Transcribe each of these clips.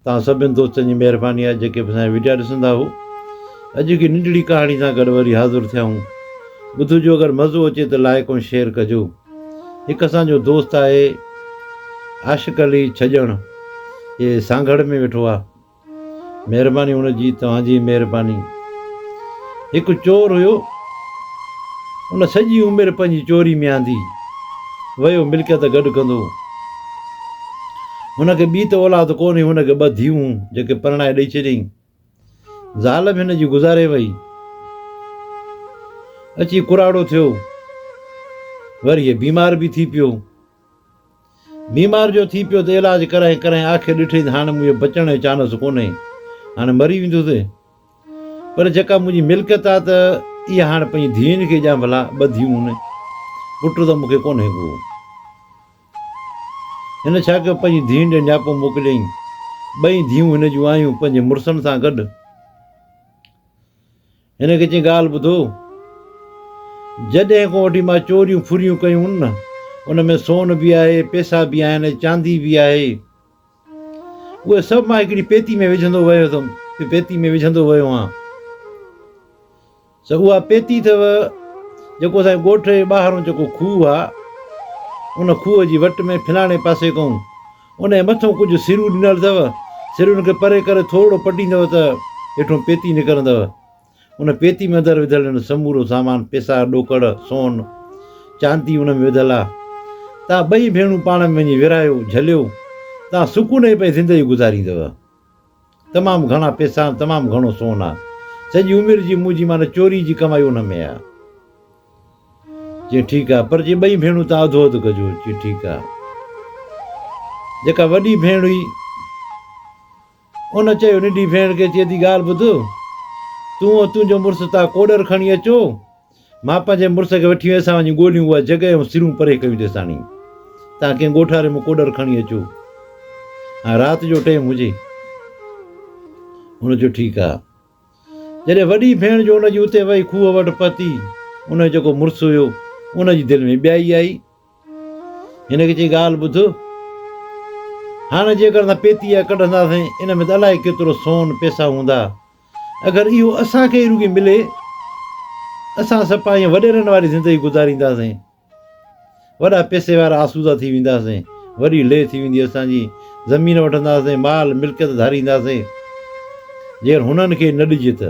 توهان سڀني دوستن جي مهرباني آهي جيڪي به اسانجا وڊيا ڏسندا هو اڄ هڪ ننڍڙي ڪهاڻي سان گڏ وري حاضر ٿيا آهون ٻڌ جو اگر مزو اچي ته لائيڪ ۽ شيئر ڪجو هڪ اسانجو دوست آهي عاشق علي ڇڄڻ جي سانگهڙ ۾ ويٺو آهي مهرباني هن جي توهان جي مهرباني هڪ چور هيو ان سڄي عمر پنهنجي چوري ۾ آندي ويو ملڪيت گڏ ڪندو هن کي ٻي ته اولاد ڪونهي، هن کي ٻه ڌيئون هون، جيڪي پرڻائي ڏئي ڇڏيائين. زال به هن جي گذاري وئي. اچي ڪراڙو ٿيو. وري هي بيمار به ٿي پيو. بيمار جو ٿي پيو ته علاج ڪرائين ڪرائين آخر ڏٺئي ته هاڻ مون بچڻ جو چانس ڪونهي. هاڻ مري ويندس. پر جيڪا منهنجي ملڪيت آ ته اها هاڻ پنهنجي ڌيئن کي ڏيان ڀلا، ٻه ڌيئون هن. پٽ ته مون کي ڪونهي ڪو. هن ڇا ڪيو پنهنجي ڌيئن ڏي نياپو موڪليائين. ٻئي ڌيئون هن جون آيون پنهنجي مڙسن سان گڏ. هن کي چيائين ڳالهه ٻڌو. جڏهن کان وٺي مان چوريون ڦريون ڪيون نه ان ۾ سون به آهي، پيسا به آهن ۽ چاندي به آهي. اهي سڀ مان هڪڙي پيتي ۾ وجهندو ويو هتم پيتي ۾ وجهندو ويو هان سو اها پيتي اٿو جيڪو اسان جي ڳوٺ جي ٻاهرون جيڪو کوهه آ ان کوهه جي وٽ ۾ فلاڻي پاسي ڪئون ان جي مٿو ڪجهه سرون ڏنل اٿو سرن کي پري ڪري ٿورڙو پٽيندو ته هيٺون پيتي نڪرندو ان پيتي ۾ اندر وڌل هن سمورو سامان پيسا، ڏوڪڙ، سون، چاندي ان ۾ وڌل آ. تان ٻئي ڀيڻون پاڻ ۾ وڃي ورهايو، جهليو. تان سڪوني پئي زندگي گذاريندؤ. تمام گهڻا پيسا ۽ تمام گهڻو سون آ. سڄي عمر جي منهنجي معنيٰ چوري جي ڪمائي ان ۾ آ. چي ٺيڪ آ. پر چي ٻئي ڀيڻون تان اڌو اڌ ڪجو. چي ٺيڪ آ. جيڪا وڏي ڀيڻ هئي. ان چيو، ننڍي ڀيڻ کي چئي ٿي ڳالهه ٻڌ، تون ۽ تنهنجو مڙس تان ڪوڏر کڻي اچو، مان پنهنجي مڙس کي وٺي ويسان وڃي ڳوليون اها جڳهه ۽ سرون پري ڪيون تيساڻي تان ڪنهن ڳوٺاري مان ڪوڏر کڻي اچو ۽ رات جو ٽيم هجي. هن چيو ٺيڪ آهي. جڏهن وڏي ڀيڻ جو ان جي اتي وئي کوهه وٽ پهتي، ان جو جيڪو مڙس هيو، ان جي دل ۾ ٻيائي آئي هن کي چيائين ڳالهه ٻڌ، هاڻ جيڪر اسان پيتي اها ڪڍنداسين، ان ۾ ته الائي ڪيترو سون، پيسا، هوندا. اگر اهو اسان کي ئي رڳي ملي، اسان سپا ائين وڏيرن واري زندگي گذارينداسين. وڏا پيسي وارا آسودا ٿي وينداسين. وڏي لي ٿي ويندي اسان جي. زمين وٺنداسين، مال ملڪيت ڌارينداسين. جيڪر هنن کي نه ڏجي ته.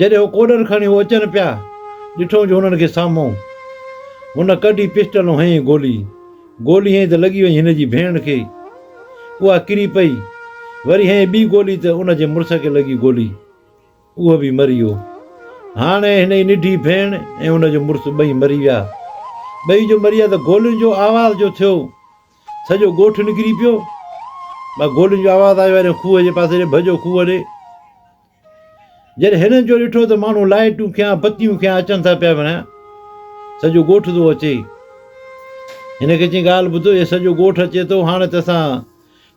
جڏهن هو ڪوڏر کڻي هو اچن پيا، ڏٺئون جو هنن کي سامهون. هن ڪڍي پسٽل ۽ هنئين گولي. گولي هنئين ته لڳي وڃي هن جي ڀيڻ کي. اها ڪري پئي. وري هنئين ٻي گولي ته ان جي مڙس کي لڳي گولي. اهو به مري ويو. هاڻي هن جي ننڍي ڀيڻ ۽ ان جو مڙس ٻئي مري ويا. ٻئي جو مري ويا ته گولين جو آواز جو ٿيو. سڄو ڳوٺ نڪري پيو. مان گولين جو آواز آيو ۽ کوهه جي پاسي ڏي ڀڄو کوهه ڏي. جڏهن هنن جو ڏٺو ته ماڻهو لائيٽون کنيا بتيون کنيا اچن ٿا پيا وڻيا. سڄو ڳوٺ ٿو اچي. هن کي چين ڳالهه ٻڌو هي سڄو ڳوٺ اچي ٿو هاڻي ته اسان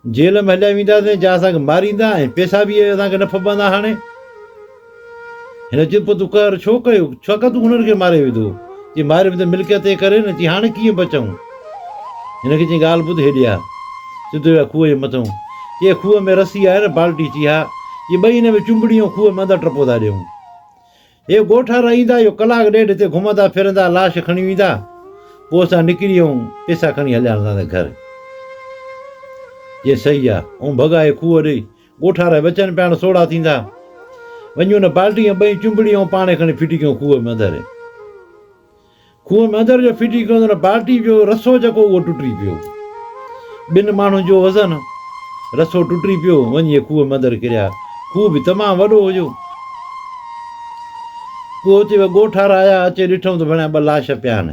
جيل ۾ هليا وينداسين جا اسان کي ماريندا ۽ پيسا به اسان کي نه ڦٻندا هاڻي. هن چيو، پوء تون قهر ڇو ڪيو؟ ڇاڪاڻ تون هنر کي ماري وڌو. چي ماري وڌي ملڪيت ئي ڪري نه چي هاڻي ڪيئن بچون؟ هن کي چيائين ڳالهه ٻڌ هيڏي آ. سڌو ويا کوهه جي مٿئون. چي کوهه ۾ رسي آهي نه بالٽي؟ چي ها. چي ٻئي هن ۾ چنبڙي ۽ کوهه ۾ اندر ٽپو ٿا ڏيون. هي ڳوٺ وارا ايندا اهو ڪلاڪ ڏيڍ هتي گهمندا ڦرندا لاش کڻي ويندا. پوء اسان نڪري ائون پيسا کڻي هليا هلنداسين گهر. چيائين صحيح آ. ائون ڀڳا هي کوهه ڏي ڳوٺا ري وچن پيا ڻ سوڙها ٿيندا وڃون ن بالٽي ۽ ٻئي چنبڙي ۽ پاڻي کڻي ڦٽي ڪيون کوهه ۾ اندر کوهه ۾ اندر جو ڦٽي ڪيون ته ن بالٽي جو رسو جيڪو اهو ٽٽي پيو ٻن ماڻهن جو وزن رسو ٽٽي پيو وڃي اهي کوهه ۾ اندر ڪريا کوهه به تمام وڏو هجو پوء اتي ڳوٺا را آيا اچي ڏٺم ته ڀڻيا ٻه لاش پيا آهن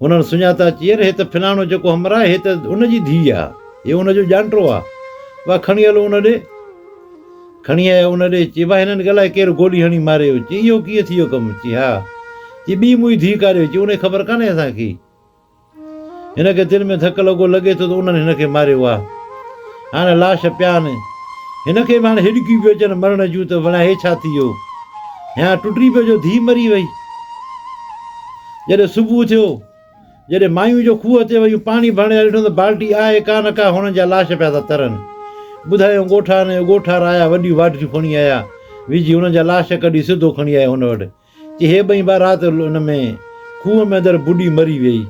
هنن سڃاتا چيئر هي ته فلاڻو جيڪو همراهه هي ته ان جي ڌيء آ، هي ان جو ڄانٽو آ، واهه کڻي هلو ان ڏي. کڻي آيا ان ڏي، چي واهه هنن کي الائي ڪير گولي هڻي ماريو، چي اهو ڪيئن ٿي ويو ڪم، چي ها، چي ٻي منهنجي ڌيء ڪاريو، چي ان جي خبر ڪانهي اسان کي، هن کي دل ۾ ڌڪ لڳو، لڳي ٿو ته انهن هن کي ماريو، واهه هاڻ لاش پيا آهن، هن کي به هاڻ هڏڪيون پيون اچن مرڻ جون ته وڙهان هي ڇا ٿي ويو، هيان ٽٽي پيو جو ڌيء مري وئي. جڏهن صبح ٿيو، جڏهن مايون جو کوهه تي ويون پاڻي ڀرڻ لاء ڏٺو ته بالٽي آهي ڪا نه ڪا هونئن جا لاش پيا ٿا ترن. ٻڌايائون ڳوٺان ۽ اڳوٺار آيا وڏيون واڍيون کڻي آيا، وجهي هنن جا لاش ڪڍي سڌو کڻي آيا هن وٽ. چي هي ٻئي ڀاء رات ان ۾ کوهه ۾ اندر ٻڏي مري ويئي.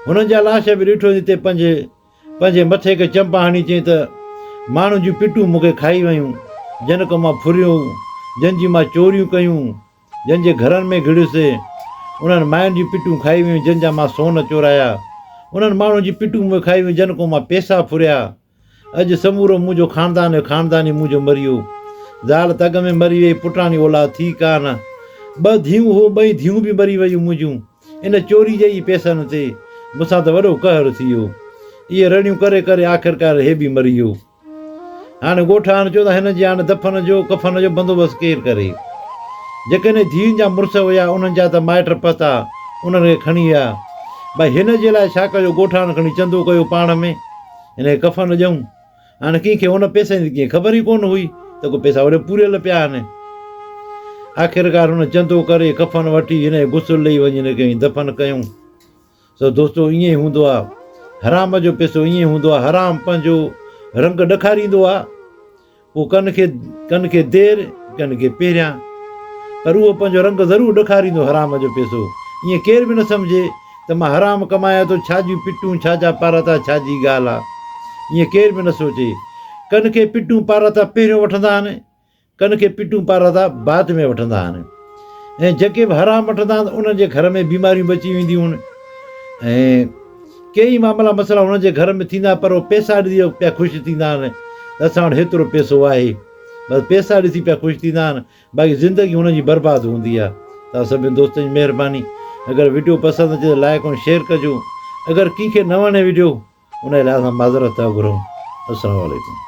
هنن جا لاش به ڏٺو جتي پنج پنهنجي مٿي کي چمپا هڻي چيائين ته ماڻهن جون پٽون مون کي کائي ويون، جن کان مان ڦريو، جن جي مان چوريون ڪيون، جن جي گهرن ۾ گهڙيوسي، انهن ماين جون پٽون کائي ويون، جن جا مان سون چورايا. انهن ماڻهن جون پٽون مون کائي ويون، جن ڪو مان پيسا ڦريا. اڄ سمورو منهنجو خاندان ۽ خانداني منهنجو مريو. زال ته اڳ ۾ مري ويئي، پٽاڻي اولاد ٿي ڪا نه. ٻه ڌيئون هو، ٻئي ڌيئون به مري ويون منهنجون، ان چوري جي ئي پيسن تي. مون سان ته وڏو قهر ٿي ويو. اهي رڙيون ڪري ڪري آخرڪار هي به مري ويو. هاڻي ڳوٺاڻن چيو ته هن جي هاڻي دفن جو، ڪفن جو، بندوبست ڪير ڪري؟ جيڪڏهن ڌيئن جا مڙس هيا، انهن جا ته مائٽ پتا، انهن کي کڻي ويا. ڀئي هن جي لاء ڇا ڪجو؟ ڳوٺاڻن کڻي چندو ڪيو پاڻ ۾، هن کي ڪفن ڏيئون. هاڻي ڪنهن کي ان پئسن جي ڪنهن خبر ئي ڪونه هئي ته ڪو پئسا وڏي پوريل پيا آهن. آخرڪار هن چندو ڪري، ڪفن وٺي، هن کي غسل ڏيئي وڃي هن کي دفن ڪيون. سو دوستو ائين ئي هوندو آ حرام جو پيسو ائين ئي هوندو آ حرام پنهنجو رنگ ڏکاريندو آ پوء ڪن کي ڪن کي دير ڪن کي پهريان پر اهو پنهنجو رنگ ضرور ڏکاريندو حرام جو پيسو ائين ڪير به نه سمجهي ته مان حرام ڪمايان ٿو ڇا جون پٽون ڇا جا پاراتا ڇا جي ڳالهه آ ائين ڪير به نه سوچي ڪن کي پٽون پاراتا پهريون وٺندا آهن ڪن کي پٽون پارا ٿا بات ۾ وٺندا آھن ۽ جيڪي به حرام وٺندا آھن انھن جي گھر ۾ بيماريون به اچي وينديون آھن ۽ ڪي ئي معاملا مسئلا انھن جي گھر ۾ ٿيندا پر اھو پيسا ڏسي پيا خوش ٿيندا آھن ته اسان وٽ ھيترو پيسو آھي بس پيسا ڏسي پيا خوش ٿيندا آھن باقي زندگي انھن جي برباد ھوندي آھي توھان سڀني دوستن جي مھرباني اگر وڊيو پسند اچي ته لائڪ ۽ شيئر ڪجو اگر ڪنھن کي نه وڻي وڊيو انھي لاء اسان معذرت ٿا گھرون السلام عليڪم